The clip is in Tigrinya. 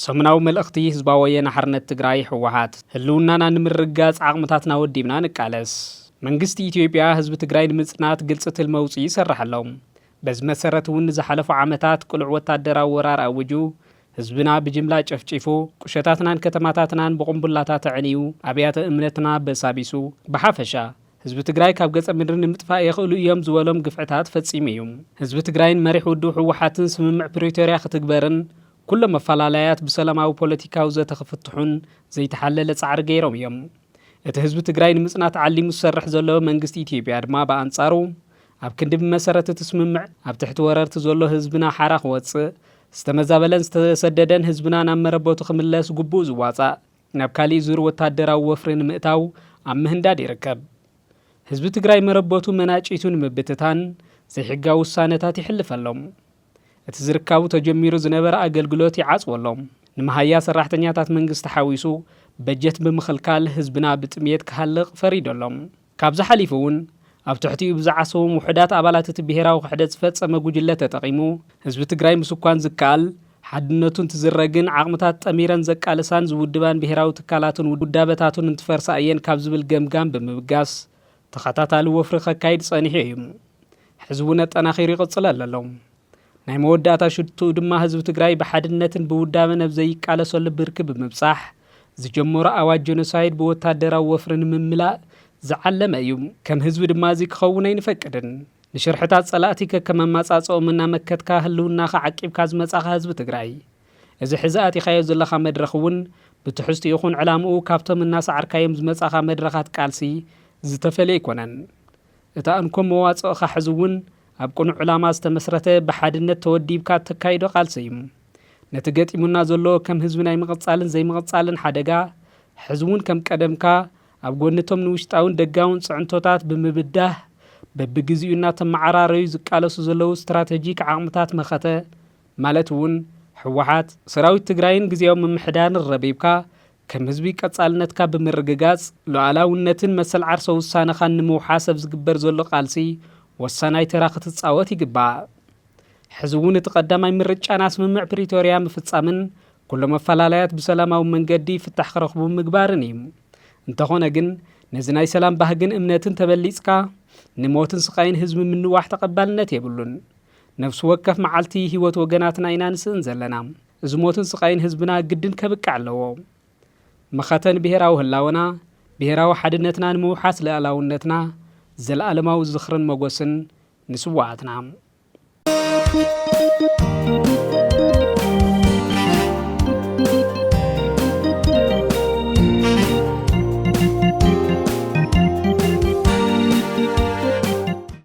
ሰሙናዊ መልእኽቲ ህዝባዊ ወየነ ሓርነት ትግራይ ህወሓት ህልውናና ንምርጋፅ ዓቕምታትና ወዲብና ንቃለስ። መንግስቲ ኢትዮጵያ ህዝቢ ትግራይ ንምፅናት ግልፂ ትልሚ ኣውፂኡ ይሰርሕ ኣሎ። በዚ መሰረት እውን ንዝሓለፉ ዓመታት ቅሉዕ ወታደራዊ ወራር ኣዊጁ ህዝብና ብጅምላ ጨፍጪፉ፣ ቁሸታትናን ከተማታትናን ብቑምቡላታት ኣዕንዩ፣ ኣብያተ እምነትና በሳቢሱ፣ ብሓፈሻ ህዝቢ ትግራይ ካብ ገፀ ምድሪ ንምጥፋእ የኽእሉ እዮም ዝበሎም ግፍዕታት ፈፂሙ እዩ። ህዝቢ ትግራይን መሪሕ ውድብ ህወሓትን ስምምዕ ፕሪቶርያ ክትግበርን ኩሎም ኣፈላላያት ብሰላማዊ ፖለቲካዊ ዘተ ክፍትሑን ዘይተሓለለ ፃዕሪ ገይሮም እዮም። እቲ ህዝቢ ትግራይ ንምፅናት ዓሊሙ ዝሰርሕ ዘሎ መንግስቲ ኢትዮጵያ ድማ ብኣንፃሩ፣ ኣብ ክንዲ ብመሰረት እቲ ስምምዕ ኣብ ትሕቲ ወረርቲ ዘሎ ህዝብና ሓራ ክወፅእ፣ ዝተመዛበለን ዝተሰደደን ህዝብና ናብ መረበቱ ክምለስ ግቡኡ ዝዋፃእ ናብ ካሊእ ዙር ወታደራዊ ወፍሪ ንምእታው ኣብ ምህንዳድ ይርከብ። ህዝቢ ትግራይ መረበቱ መናጪቱ ንምብትታን ዘይሕጋዊ ውሳነታት ይሕልፈሎም። እቲ ዝርካቡ ተጀሚሩ ዝነበረ ኣገልግሎት ይዓፅወሎም። ንመሃያ ሰራሕተኛታት መንግስቲ ሓዊሱ በጀት ብምኽልካል ህዝብና ብጥምየት ክሃልቕ ፈሪዶሎም። ካብዚ ሓሊፉ እውን ኣብ ትሕቲኡ ብዝዓሰዎም ውሑዳት ኣባላት እቲ ብሄራዊ ክሕደት ዝፈፀመ ጉጅለ ተጠቒሙ ህዝቢ ትግራይ ምስኳን ዝከኣል ሓድነቱ እንትዝረግን ዓቕምታት ጠሚረን ዘቃልሳን ዝውድባን ብሄራዊ ትካላቱን ውዳበታቱን እንትፈርሳ እየን ካብ ዝብል ገምጋም ብምብጋስ ተኸታታሊ ወፍሪ ከካይድ ፀኒሑ እዩ። ሕዚ እውን ኣጠናኺሩ ይቕፅለሉ ኣሎ። ናይ መወዳእታ ሽትኡ ድማ ህዝቢ ትግራይ ብሓድነትን ብውዳበን ኣብ ዘይቃለሰሉ ብርኪ ብምብፃሕ ዝጀመሮ ኣዋጅ ጀኖሳይድ ብወታደራዊ ወፍሪ ንምምላእ ዝዓለመ እዩ። ከም ህዝቢ ድማ እዚ ክኸውን ኣይንፈቅድን። ንሽርሕታት ጸላእቲ ከከም ኣማጻጽኦም እናመከትካ ህልውናኻ ዓቂብካ ዝመጻኻ ህዝቢ ትግራይ እዚ ሕዚ ኣቲኻዮ ዘለኻ መድረኽ እውን ብትሕዝቱ ይኹን ዕላምኡ ካብቶም እናሰዓርካዮም ዝመጻኻ መድረኻት ቃልሲ ዝተፈለየ ኣይኮነን። እታ እንኮ መዋጽእኻ ሕዚ እውን ኣብ ቅኑዕ ዕላማ ዝተመስረተ ብሓድነት ተወዲብካ እተካይዶ ቃልሲ እዩ። ነቲ ገጢሙና ዘሎ ከም ህዝቢ ናይ ምቕጻልን ዘይምቕጻልን ሓደጋ፣ ሕዚ እውን ከም ቀደምካ ኣብ ጎኒ እቶም ንውሽጣውን ደጋውን ጽዕንቶታት ብምብዳህ በብግዜኡ እናተመዓራረዩ ዝቃለሱ ዘለዉ ስትራተጂክ ዓቕምታት መኸተ ማለት እውን ህወሓት፣ ሰራዊት ትግራይን ግዝያዊ ምምሕዳርን ረቢብካ ከም ህዝቢ ቀጻልነትካ ብምርግጋጽ፣ ሉኣላውነትን መሰል ዓርሰ ውሳነኻን ንምውሓስ ኣብ ዝግበር ዘሎ ቃልሲ ወሳናይ ተራ ክትጻወት ይግባእ። ሕዚ እውን እቲ ቀዳማይ ምርጫና ስምምዕ ፕሪቶርያ ምፍጻምን ኩሎም ኣፈላላያት ብሰላማዊ መንገዲ ፍታሕ ክረኽቡ ምግባርን እዩ። እንተኾነ ግን ነዚ ናይ ሰላም ባህግን እምነትን ተበሊጽካ ንሞትን ስቓይን ህዝቢ ምንዋሕ ተቐባልነት የብሉን። ነፍሲ ወከፍ መዓልቲ ህይወት ወገናትና ኢና ንስእን ዘለና። እዚ ሞትን ስቓይን ህዝብና ግድን ከብቅዕ ኣለዎ። መኸተ ንብሄራዊ ህላወና፣ ብሄራዊ ሓድነትናን ምውሓስ ልኣላውነትና፣ ዘለኣለማዊ ዝኽርን መጎስን ንስዋኣትና!